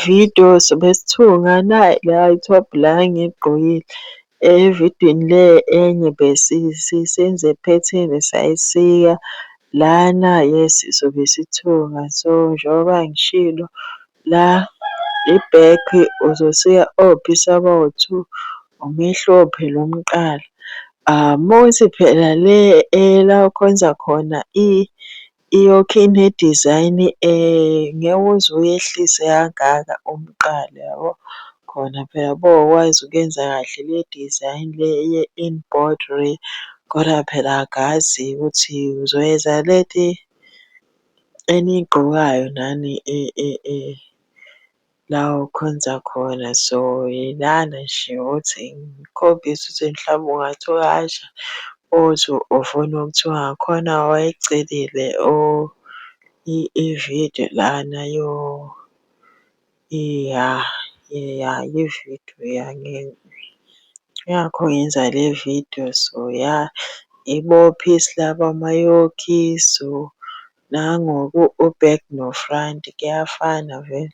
Video sobe sithunga nayi la i-top la engiyigqokile. Evidweni le enye senze phetheni sayisika lana yes sobe sithunga. So njengoba ngishilo la i-back uzosika opisi abawu-two, umehluko phela umqala. Uma kuthi phela le la okhonza khona Iyokhi ine design ngeke uze uyehlise kangaka umqala yabo. Khona phela bowukwazi ukuyenza kahle le design le ye-embroidery kodwa phela angazi ukuthi uzoyenza lento eniyigqokayo nani . La okhonza khona so ilana nje ukuthi ngikhombise ukuthi mhlawumbe ungathi uyasha uthi ufuna okuthiwa ngakhona wayecelile i-video lana ya ya i-video ya yingakho ngenza le video so ya ibophe isilabhu amayokhi so. Nangoku uback no front kuyafana vele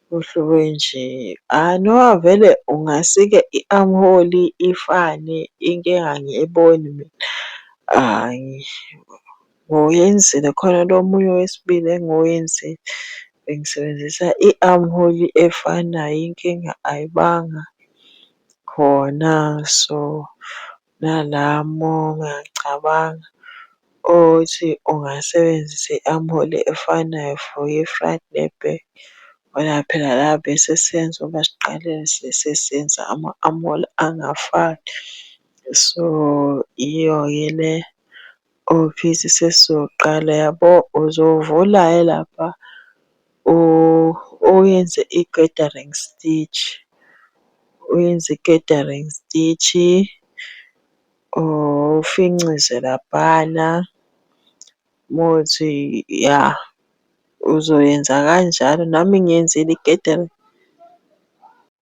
kuhluke nje. Hhayi no vele ungasike i-armhole ifane inkinga angiyiboni mina. Hhayi ngoyenzile khona lo omunye owesibili engiwenzile bengisebenzisa i-armhole efanayo inkinga ayibanga khona so. Nalamo ngiyacabanga ukuthi ungasebenzisa i-amoli efanayo for i-fried ne-burger. Ngoba phela la besesenza ukuba siqale sesenza ama-amoli angafani. So, yiyo-ke le Office sesizoqala yabo uzovula hhayi lapha uyenze i-gathering stage. Uyenze i-gathering stage-i ufincize laphana uma kuwukuthi ya uzoyenza kanjalo nami ngiyenzile i-gathering.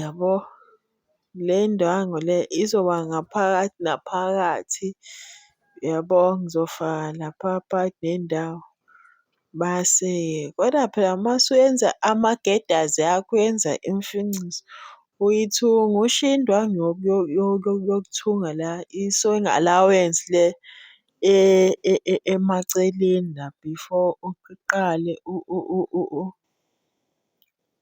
yabo. Le ndwangu le izoba ngaphakathi naphakathi yabo, ngizofaka lapha phakathi nendawo. Mase-ke kodwa phela uma usuwenza amagedazi akho uyenza imifiniso, uyithunga ushiye indwangu yokuthunga la i-sewing allowance le emaceleni la before uqale .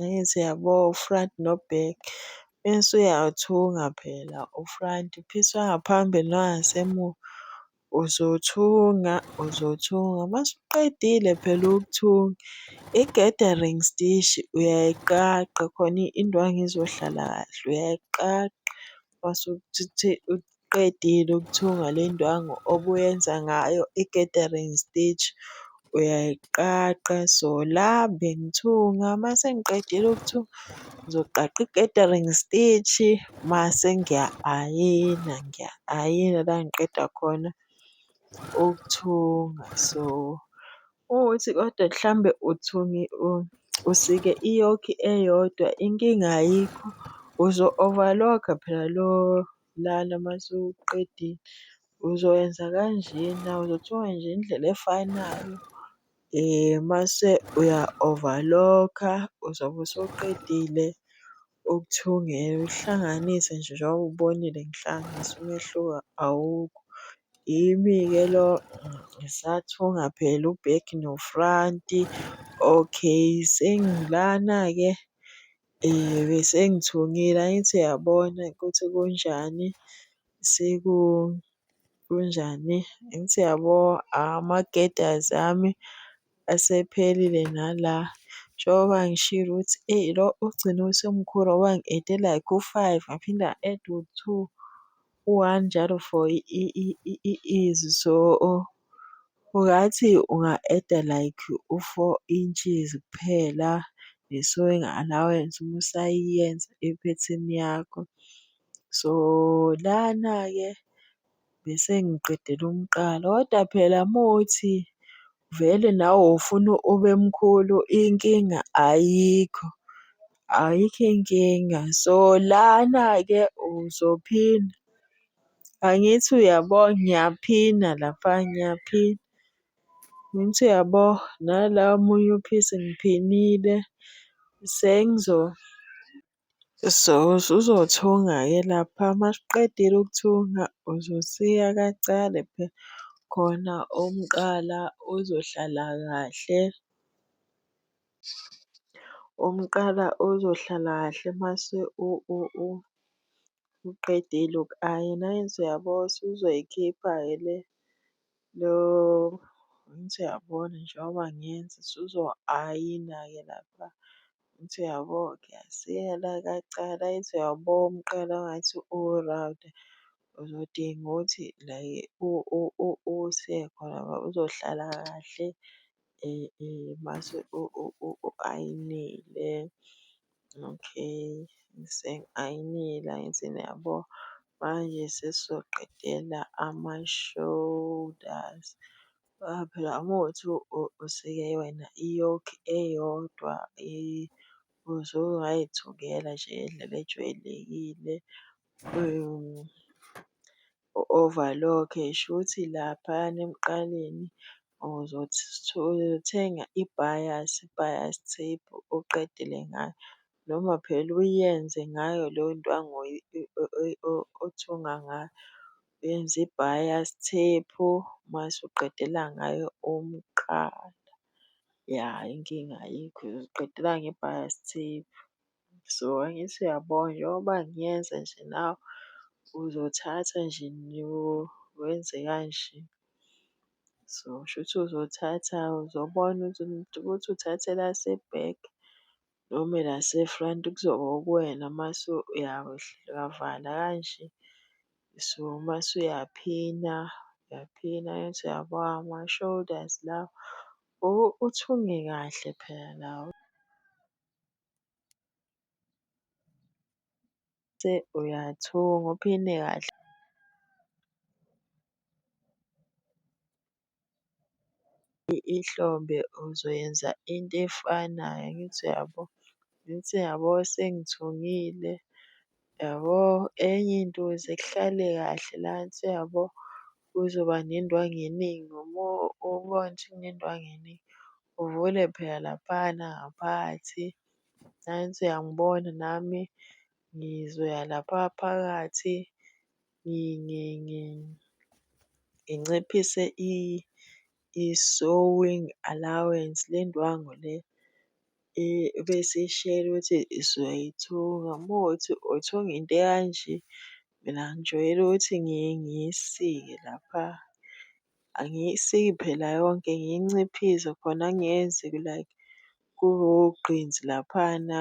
Angithi uyabo uFried noBerg mese uyathunga phela uFried uphiswa ngaphambili nangasemuva, uzothunga uzothunga mase uqedile phela ukuthunga i-gathering stishi uyayiqaqa khona indwangu izohlala kahle uyayiqaqa uqedile ukuthunga le ndwangu obuyenza ngayo i-gathering stitch uyayiqaqa. So, la bengithunga uma sengiqedile ukuthunga ngizoqaqa i-gathering stitch-i mase ngiya-ayina, ngiya-ayina la ngiqeda khona ukuthunga. So, Ukuthi kodwa mhlawumbe uthi usike iyoki eyodwa inkinga ayikho, uzo-overlock-a phela lo lana uma usuqedile. Uzowenza kanjena, uzothi wenje indlela efanayo mase uya-overlock-a, uzobe usuqedile. Okuthiwa ungeke uhlanganise nje njengoba ubonile ngihlanganisa umehluko awukho. Yimi-ke lo ngisathunga phela u-back nofranti. Okay, sengilana-ke besengithungile angithi uyabona ukuthi kunjani . Kunjani? Angithi uyabo ama-girders ami asephelile nala. Njengoba ngishilo ukuthi eyi lo ugcine usemkhulu ngoba ngi-ede like u-five ngaphinde nga-eda u-two, u-one njalo for izwi. So, ungathi unga-eda like u-four inches kuphela ne-sewing allowance uma usayiyenza iphethini yakho. So lana-ke bese ngiqedela umqala kodwa phela uma uthi vele nawe ufuna ube mkhulu inkinga ayikho, ayikho inkinga. So lana-ke uzophina, angithi uyabo? Ngiyaphina lapha ngiyaphina, angithi uyabo? Nala omunye uphisi ngiphinile . So usuzothunga-ke lapha uma usuqedile ukuthunga uzosika kancane phela khona umqala uzohlala kahle. Umqala uzohlala kahle mase uqedile uku-ayina. Angithi uyabo usuzoyikhipha-ke le . Lo ngithi uyabona njengoba ngenza usuzoayina-ke lapha. Ngithi uyabo ngiyasela kacala ithi uyabo umqala ngathi u-round uzodinga ukuthi la usiye khona ngoba uzohlala kahle. mase u-ayinile, okay, sengi-ayinile angithini yabo. Manje sesizoqedela ama-shoulders, ngoba phela uma kuwukuthi usike wena i-yoke eyodwa usuke ungayithukela nje ngendlela ejwayelekile . u-overlock shuthi laphayana emqaleni uzothenga i-bias, bias tape uqedele ngayo noma phela uyenze ngayo leyo ndwangu othunga ngayo. Uyenze i-bias tape mase uqedela ngayo umqala, ya inkinga ayikho uziqedela nge-bias tape. So, angithi uyabona njengoba ngiyenza nje nawe uzothatha nje wenze kanje. So, shuthi uzothatha uzobona ukuthi ukuthi uthatha elase-back noma elase-front kuzoba okuwena mase uyavala kanje. So, mase uyaphina uyaphina angithi uyabona ama-shoulders lawa uthunge kahle phela la. Uyathunga uphinde kahle. Ihlombe uzoyenza into efanayo angithi uyabo? Angithi uyabo sengithungile. Yabo enye into ukuze kuhlale kahle la ensi yabo kuzoba nendwangu eningi uma ubona ukuthi kunendwangu eningi uvule phela laphana ngaphakathi. Nansi uyangibona nami ngizoya lapha phakathi nginciphise i-sowing allowance, le ndwangu le ebesiyishela ukuthi sizoyithunga. Uma kuwukuthi uthunga into ekanje, mina ngijwayele ukuthi ngiye ngiyisike lapha. Angiyisiki phela yonke, ngiyinciphise khona kungenze like kube wugqinsi laphana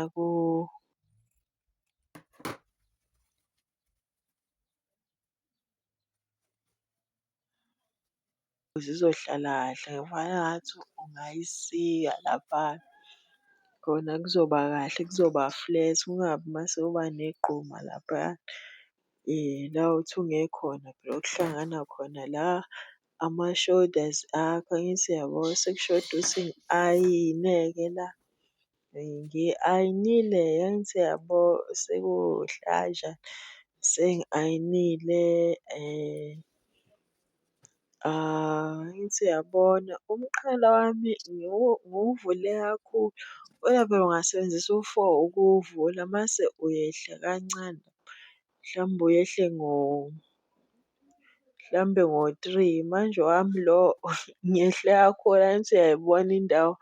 Zizohlala kahle ngifana ngathi ungayisika laphana. Khona kuzoba kahle kuzoba flat kungabi mase kuba negquma laphaya. La othi unge khona phela okuhlangana khona la ama-shoulders akho angithi uyabo sekushoda ukuthi ngi-ayine-ke la. Ngi-ayinile engithi yabo sekuwuhlaja sengi-ayinile angithi uyabona umqhele wami ngiwuvule kakhulu kodwa phela ungasebenzisa u-four ukuwuvula mase uyehla kancane. Mhlawumbe uyehle ngo mhlawumbe ngo-three. Manje owami lo ngiyehla khona ngithi uyayibona indawo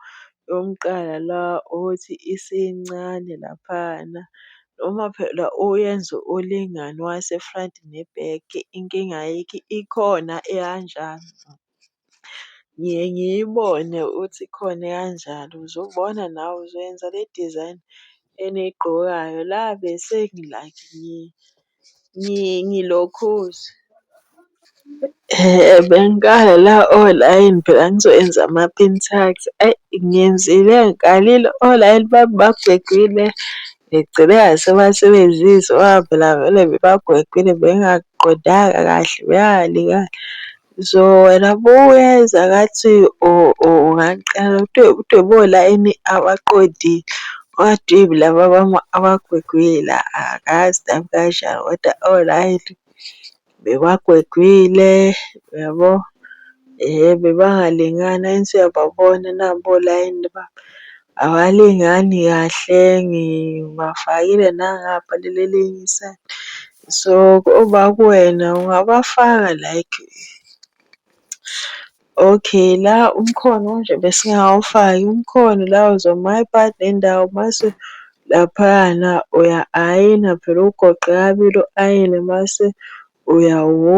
yomuqala la othi isincane laphayana. Noma phela uyenze ulingane owase-front ne-back inkinga ayikho ikhona eyanjalo. Ngiye ngiyibone ukuthi ikhona ekanjalo, uzobona nawe uzoyenza le design eniyigqokayo la bese like ngilokhuza. Bengikhala la olayini phela ngizoyenza ama-pin tucks, ayi ngenzile ngikhalile olayini bami bagwegwile ngigcine ngasebasebenzisa ngoba phela vele bebagwegwile bengingakuqondanga kahle . Zoh wena bo uyeza ngathi ungangixaka kodwa bo la ini abaqondile okwathiwa ilaba abagwegwile angazi nami kanjani kodwa o-right bebagwegwile yabo. Yebo bangalingani angithi uyababona nabo olayini babo abalingani kahle ngibafakile nangapha kuleli elinye isayidi So uba kuwena ungabafaka like okay la umkhono kanje besingawufaki umkhono la uzwa my part nendawo mase laphayana uya-ayina phela ugoqe kabili u-ayine mase uyawu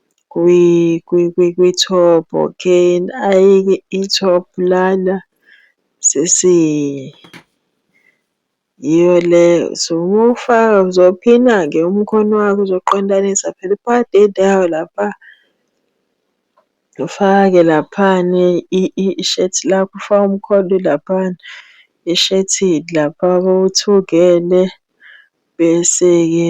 kwi-top okay ayi-ke i-top lana sisi yiyo le so uma ufaka uzophina-ke umkhono wakho uzoqondanisa phela iphadi elindawo lapha. Ufake laphani ishethi lakho ufake umkhono laphana eshethini lapha uthungele bese-ke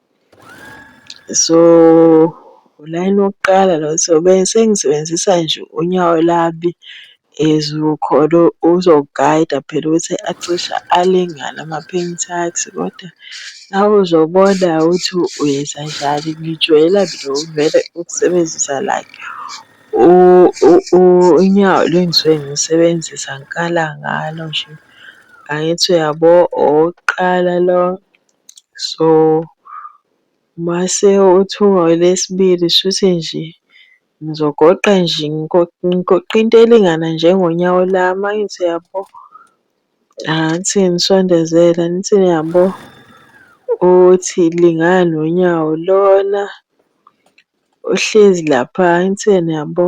So, ulayini wokuqala lo so sengisebenzisa nje unyawo lami as khona ozogayida phela ukuthi acishe alingane ama-paint akhe kodwa nawuzobona ukuthi wenzenjani. Ngijoyela mina vele ukusebenzisa like unyawo lo engisuke ngilusebenzisa ngikala ngalo nje. Angithi uyabo owokuqala lo. So mase uthuka elesibili shuthi nje ngizogoqa nje ngigoqa into elingana njengonyawo lami angithi uyabo. Angithi ngisondezele angithi niyabo uthi lingana nonyawo lona uhlezi lapha angithi yena uyabo.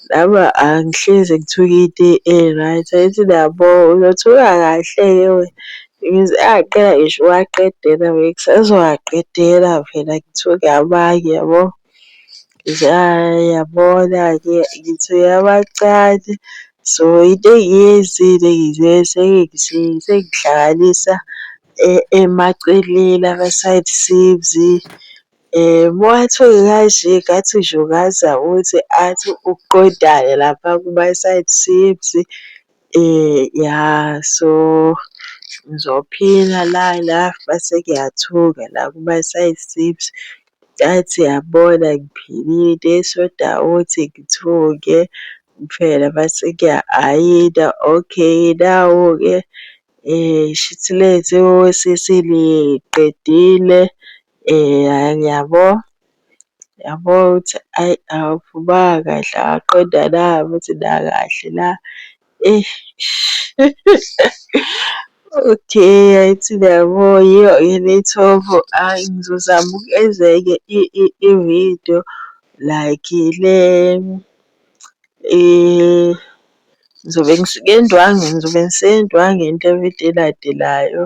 Laba angihlezi ngithuke into e-right, angithi nabo uyothuka kahle-ke wena. Ngize angaqeda ngisho ukuwaqedela vele ngisazowaqedela phela ngithuke amanye yabo. Ngithi hhayi yabona-ke ngithuke amancane. So into engiyenzile ngize sengihlanganisa emaceleni ama-side seams. Moatsho kaje ngathi uJokazi uthi athi ukuqondana lapha kuma-side seams, ya so ngizophila lana mase kuyathunga la kuma-side seams. Ngathi yabona ngiphilile so dawoti ngithunge kuphela mase kuya-ayinwa okay nawu-ke shuthi lento yosisi niyiqedile, Yabo, yabo ukuthi ayi awuphumanga kahle awaqondwa na ukuthi la kahle la eish. Okay angithi niyabo yiyo yini ithombo ayi ngizozama ukwenza enye i-video like le ngizobe ngisendwangini ngizobe ngisendwangini le video elandelayo.